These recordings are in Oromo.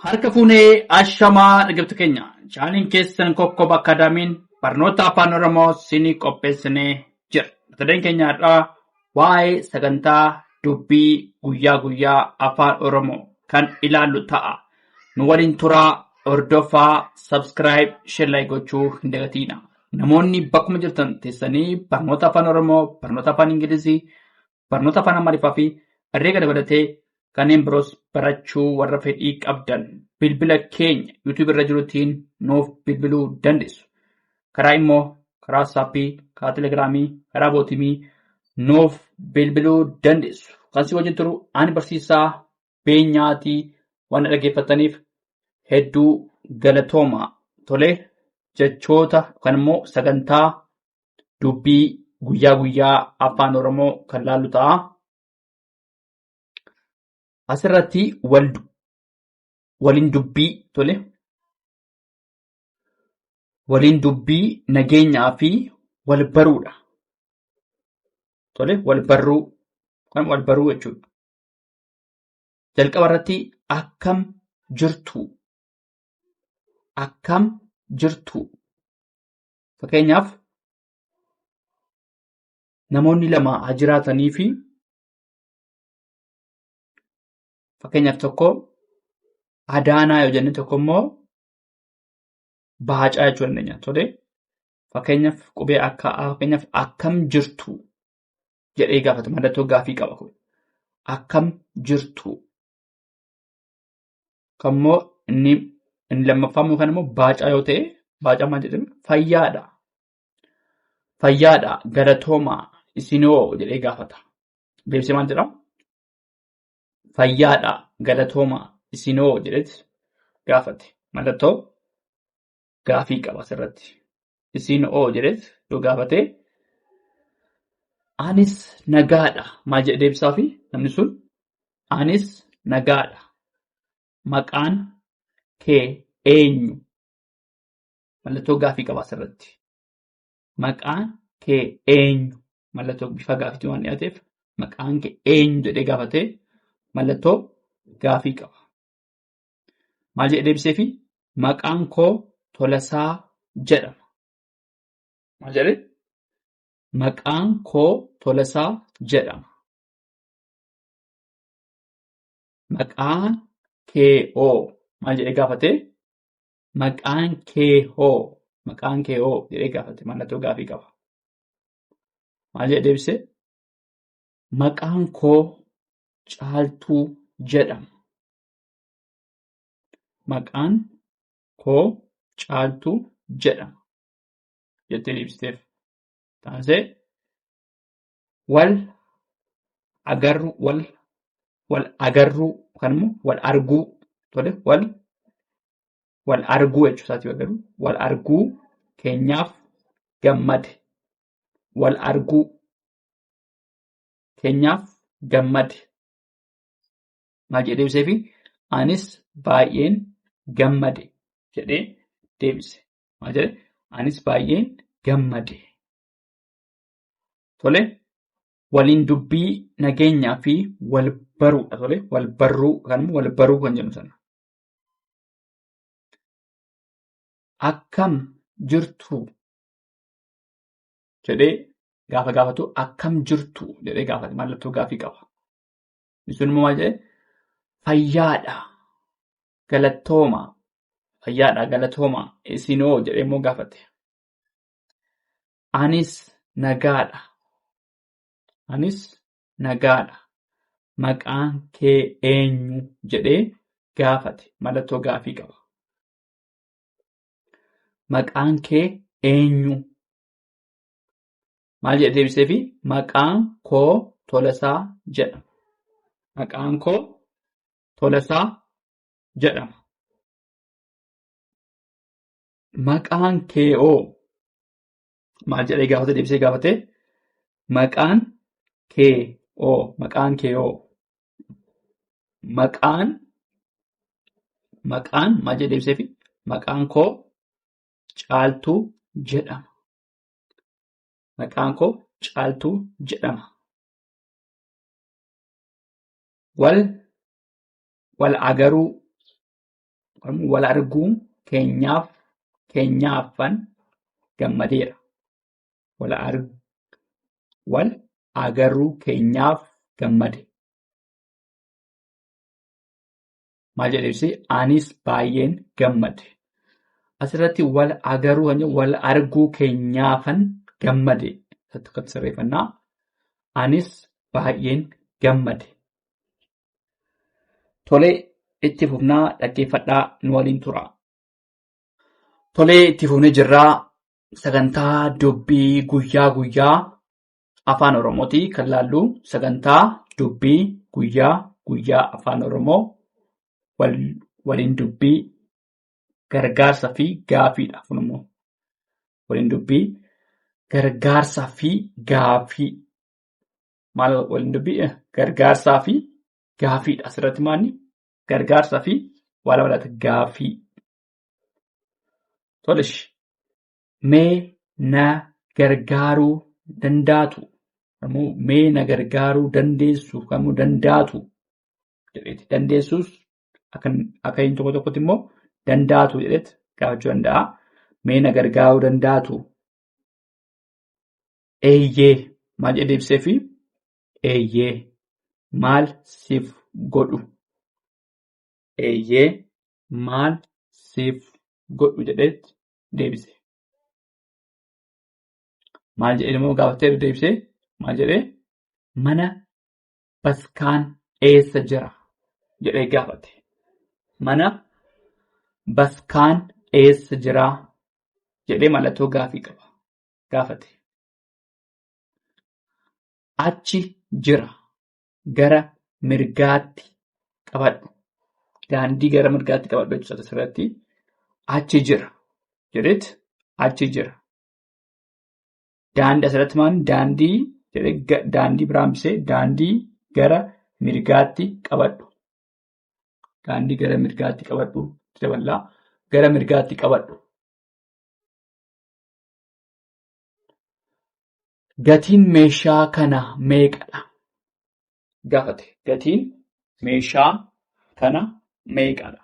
Harka fuunee ashamaa dhaggeeffattoota keenya chaanaliin keessan kokkoba akaadaamiin barnoota afaan oromoo siinii qopheessinee jira. Mata dureen keenya har'aa waa'ee sagantaa dubbii guyyaa guyyaa afaan oromoo kan ilaallu ta'a. Nu waliin turaa hordofaa sabskiraayib sheerlaayik gochuu hin dagatiina. Namoonni bakkuma jirtan teessanii barnoota afaan oromoo barnoota afaan ingilizii barnoota afaan Amaariffaa fi herreega dabalatee kanneen biroos barachuu warra fedhii qabdan bilbila keenya YouTube irra jirutiin nuuf bilbiluu dandeessu. Karaa immoo karaa saappii, karaa telegiraamii, karaa bootimii nuuf bilbiluu dandeessu. Kan si wajjin turu ani barsiisaa beenyaatii waan dhaggeeffataniif hedduu galatooma. Tolee jechoota yookaan immoo sagantaa dubbii guyyaa guyyaa afaan oromoo kan laallu ta'a. Asirratti wal waliin dubbii tole waliin dubbii nageenyaa fi wal baruudha. Tole wal barruu kan wal baruu jechuudha. Jalqaba irratti akkam jirtu akkam jirtu Fakkeenyaaf namoonni lama haa jiraatanii fi fakkeenyaaf tokko Adaanaa yoo jenne tokko immoo Baacaa jechuu dandeenya. Tole fakkeenyaaf qubee akka fakkeenyaaf akkam jirtu jedhee gaafata mallattoo gaafii qaba kun akkam jirtu kan immoo inni inni lammaffaa immoo kan immoo baacaa yoo ta'e baacaa maal jedhame fayyaadha. Fayyaadha galatoomaa isinoo jedhee gaafata. Deebisee maal jedhama? Fayyaadha galatoomaa isinoo jedheeti gaafate. Mallattoo gaafii qaba asirratti. Isiin oo jedheet yoo gaafate anis nagaadha maal jedhe deebisaafi namni sun anis nagaadha maqaan kee eenyu mallattoo gaafii qaba asirratti. Maqaan kee eenyu mallattoo bifa gaafiitiin waan dhiyaateef maqaan kee eenyu jedhee gaafatee mallattoo gaafii qaba. Maal jedhee deebiseefi? Maqaan koo Tolasaa jedhama. Maal jedhee? Maqaan koo Tolasaa jedhama. Maqaan kee hoo? Maal jedhee gaafate? Maqaan kee hoo? Maqaan kee hoo? jedhee gaafate. Mallattoo gaafii qaba. Maal jedhee deebise? Maqaan koo Caaltuu jedhama. Maqaan koo Caaltuu jedhama jettee deebifteef. Taasee wal agarruu wal wal agarruu yookaan immoo wal arguu tole wal wal arguu jechuu isaati yoo garuu wal arguu keenyaaf gammade wal arguu keenyaaf gammade maal jedhee deebiseefi anis baay'een gammade jedhee deebise. Maal jedhee anis baay'een gammade. Tole waliin dubbii nageenyaa fi wal baruudha tole wal barruu yookaan immoo wal baruu kan jennu sana. Akkam jirtu jedhee gaafa gaafatu akkam jirtu jedhee gaafate mallattoo gaafii qaba. Jechuun immoo maal jedhee fayyaadha galattooma fayyaadha galattooma isinoo jedhee immoo gaafate. Anis nagaadha. Anis nagaadha. Maqaan kee eenyu jedhee gaafate mallattoo gaafii qaba. Maqaan kee eenyu? Maal jedhe deebiseefi? Maqaan koo Tolasaa jedhama. Maqaan koo Tolasaa jedhama. Maqaan kee hoo? Maal jedhee gaafate deebisee gaafate? Maqaan kee hoo? Maqaan kee hoo? Maqaan maqaan maal jedhee deebiseefi? Maqaan koo Caaltuu jedhama. Maqaan koo Caaltuu jedhama. Wal wal agaruu wal arguun keenyaaf keenyaafan gammadeera. Wal arguu wal agaruu keenyaaf gammade. Maal jedhee ibse? Anis baay'een gammade. Asirratti wal agaruu kan jedhu wal arguu keenyaafan gammade. Asirratti kan sirreeffannaa. Anis baay'een gammade. Tole itti fufnaa dhaggeeffadhaa nu waliin tura. Tole itti fufnee jirraa sagantaa dubbii guyyaa guyyaa Afaan Oromooti kan laallu sagantaa dubbii guyyaa guyyaa Afaan Oromoo waliin dubbii gargaarsa fi gaafiidha kun immoo waliin dubbii gargaarsa fi gaafii maal waliin dubbii gargaarsaa fi gaafiidha asirratti maanni gargaarsa fi waa lama laata gaafii. Tolish mee na gargaaruu dandaatu kamuu mee na gargaaruu dandeessu kamuu dandaatu jedheeti dandeessuus akka akka inni tokko tokkotti immoo dandaatu jedheet gaafachuu danda'a mee na gargaaruu dandaatu eeyyee maal jedhee deebisee fi eeyyee maal siif godhu eeyyee maal siif godhu jedheet deebise. Maal jedhee immoo gaafatee deebisee maal jedhee mana baskaan eessa jira jedhee gaafate. Mana baskaan eessa jira jedhee mallattoo gaafii qaba gaafate. Achi jira gara mirgaatti qabadhu. Daandii gara mirgaatti qabadhu jechuudha asirratti. Achi jira. Jedheet achi jira. Daandii asirratti maal daandii jedhee daandii biraan bisee daandii gara mirgaatti qabadhu. Daandii gara mirgaatti qabadhu daballaa gara mirgaatti qabadhu. Gatiin meeshaa kana meeqadha? gaafate. Gatiin meeshaa kana meeqadha?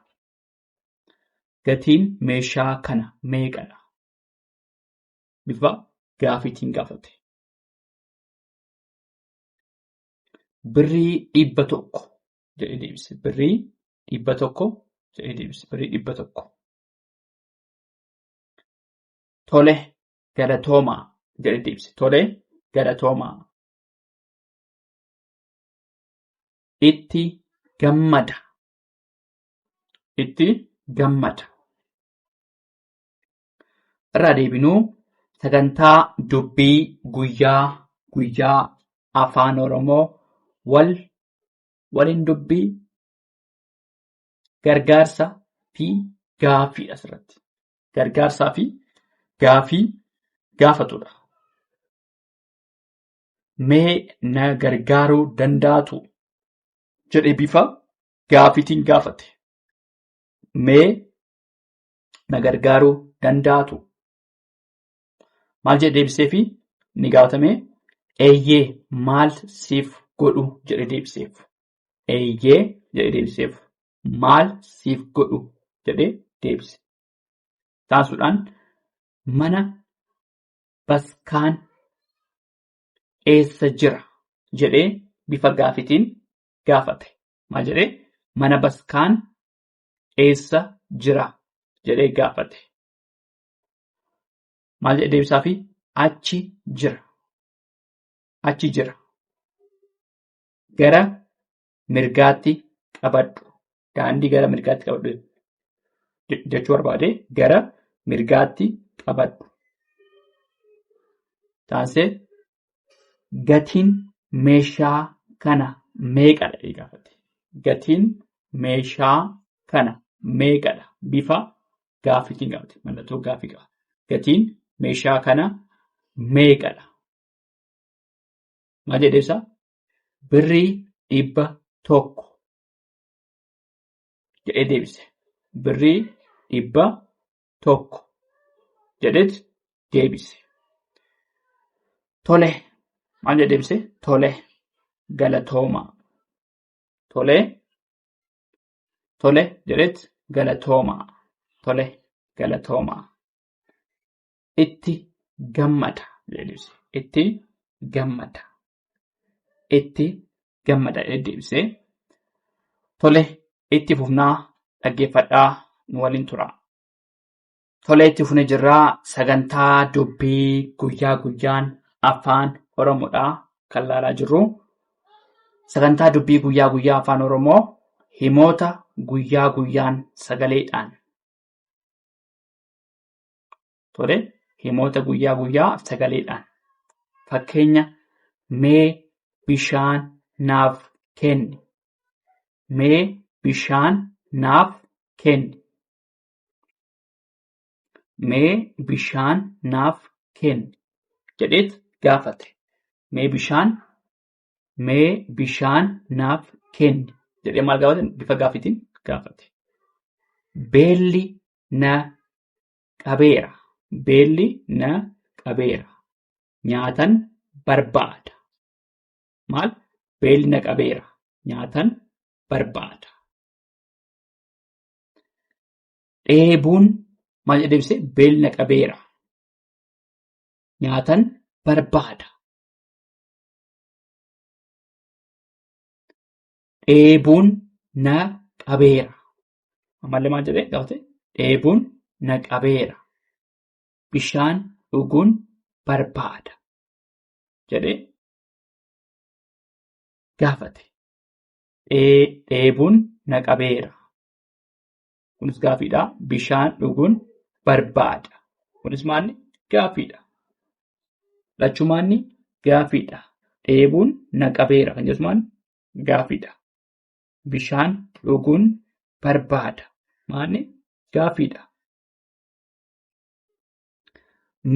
Gatiin meeshaa kana meeqadha? Bifa gaafiitiin gaafate. Birrii dhibba tokko jedhee deebise. Birrii dhibba tokko jedhee deebise. Birrii dhibba tokko. tole galatoomaa jedhetti ibse. Tole galatoomaa. Itti gammada. Itti gammada. Irraa deebinuu sagantaa dubbii guyyaa guyyaa afaan Oromoo wal waliin dubbii gargaarsa fi gaaffiidha asirratti. gargaarsaa fi gaafii gaafatudha. Mee na gargaaruu dandaatu jedhee bifa gaafiitiin gaafate. Mee na gargaaruu dandaatu. Maal jedhee deebiseefi ni gaafatame eeyyee maal siif godhu jedhee deebiseef. Eeyyee jedhee deebiseef. maal siif godhu jedhee deebise. Taasuudhaan mana baskaan eessa jira jedhee bifa gaafitiin gaafate. Maal jedhee mana baskaan eessa jira jedhee gaafate. Maal jedhee deebisaafi achi jira. Achi jira. Gara mirgaatti qabadhu. Daandii gara mirgaatti qabadhu je- jechuu barbaade gara mirgaatti qabadhu. Taansee gatiin meeshaa kana meeqadha jedhee gaafate. Gatiin meeshaa kana meeqadha? Bifa gaaffiitiin gaafate. Mallattoo gaaffii qaba. Gatiin meeshaa kana meeqadha? Maal jedhee ibsa? birrii dhibba tokko jedhee deebise. Birrii dhibba tokko jedheet deebise. Tole maal jedhee deebise? Tole galatooma. Tole tole jedheet galatooma. Tole galatooma. itti gammada jedhee deebise. Itti gammada. Itti gammada jedhee deebise. Tole itti fufnaa dhaggeeffadhaa nu waliin tura. Tole itti fufnee jirraa sagantaa dubbii guyyaa guyyaan afaan Oromoodhaa kan laalaa jirru. Sagantaa dubbii guyyaa guyyaa afaan Oromoo himoota guyyaa guyyaan sagaleedhaan Tole himoota guyyaa guyyaa sagaleedhaan fakkeenya mee bishaan naaf kenni. Mee bishaan naaf kenni. Mee bishaan naaf kenni jedheet gaafate. Mee bishaan mee bishaan naaf kenni jedhee maal gaafate bifa gaafiitiin gaafate. Beelli na qabeera. Beelli na qabeera. Nyaatan barbaada. Maal? Beelli na qabeera. Nyaatan barbaada. Dheebuun maal jedhee ibse? Beelli na qabeera. Nyaatan barbaada. dheebuun na qabeera. Ammallee maal jedhee gaafate? Dheebuun na qabeera. Bishaan dhuguun barbaada. Jedhee gaafate. Dheebuun na qabeera. Kunis gaaffiidha. Bishaan dhuguun barbaada. Kunis maalli? Gaaffiidha. Lachumaanni gaaffiidha. Dheebuun na qabeera kan jedhu maalli? gaafiidha. Bishaan dhuguun barbaada. Maali? Gaafiidha.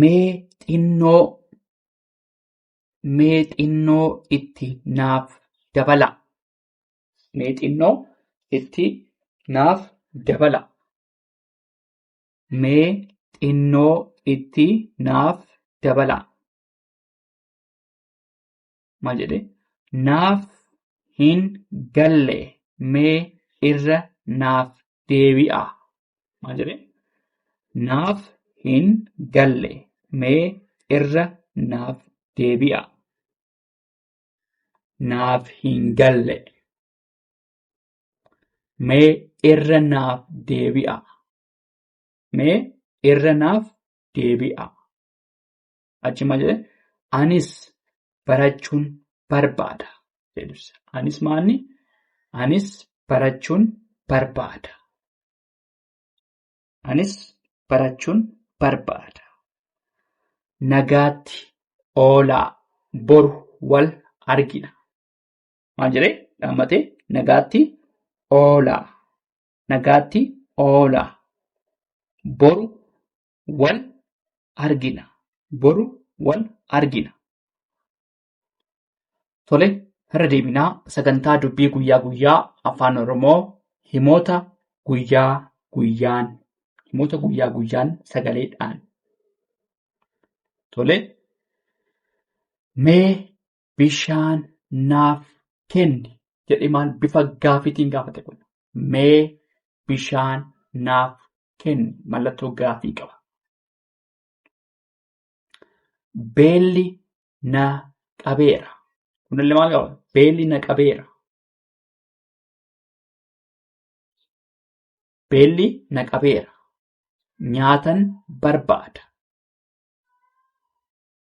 Mee xinnoo mee xinnoo itti naaf dabala. Mee xinnoo itti naaf dabala. Mee xinnoo itti naaf dabala. ma jedhe naaf hin galle mee irra naaf deebi'a ma jedhe naaf hin galle mee irra naaf deebi'a naaf hin galle mee irra naaf deebi'a mee irra naaf deebi'a. Achi maal jedhee anis barachuun barbaada. Anis maalni anis barachuun barbaada. Anis barachuun barbaada. Nagaatti oolaa boru wal argina. Maal jedhee dhaammatee nagaatti oolaa. Nagaatti oolaa. Boru wal argina. Boru wal argina. Tole, irra deebinaa sagantaa dubbii guyyaa guyyaa afaan Oromoo himoota guyyaa guyyaan himoota guyyaa guyyaan sagaleedhaan. Tole, mee bishaan naaf kenni jedhee maal bifa gaafiitiin gaafate kun mee bishaan naaf kenni mallattoo gaafii qaba. Beelli na qabeera. Kunillee maal qaba? Beelli na qabeera. Beelli na qabeera. Nyaatan barbaada.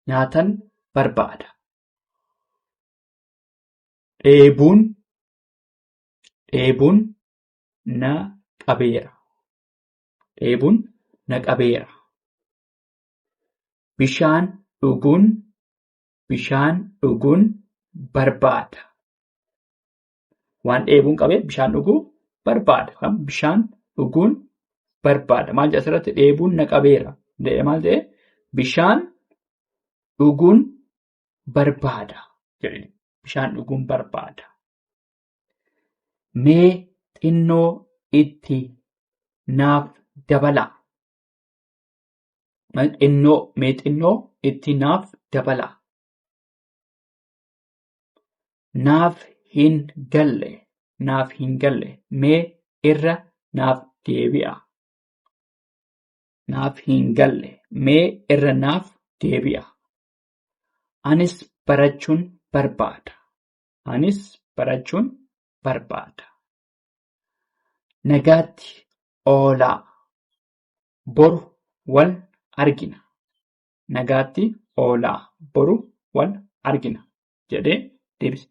nyaatan barbaada. Dheebuun dheebuun na qabeera. Dheebuun na qabeera. Bishaan dhuguun bishaan dhuguun barbaada. Waan dheebuun qabee bishaan dhuguu barbaada. Kan bishaan dhuguun barbaada. Maal jedha asirratti dheebuun na qabeera. Jedhee maal ta'e bishaan dhuguun barbaada. Jedhee bishaan dhuguun barbaada. Mee xinnoo itti naaf dabalaa. Xinnoo mee xinnoo itti naaf dabalaa. naaf hin galle naaf hin galle mee irra naaf deebi'a naaf hin galle mee irra naaf deebi'a anis barachuun barbaada anis barachuun barbaada nagaatti oolaa boru wal argina nagaatti oolaa boru wal argina jedhee deebise.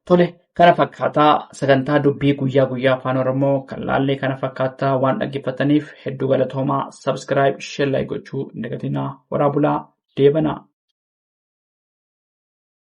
Tole kana fakkaataa sagantaa dubbii guyyaa guyyaa afaan oromoo kan laallee kana fakkaataa waan dhaggeeffataniif hedduu galatoomaa sabskiraayib sheellaayi gochuu hin dagatinaa waraa bulaa deebanaa.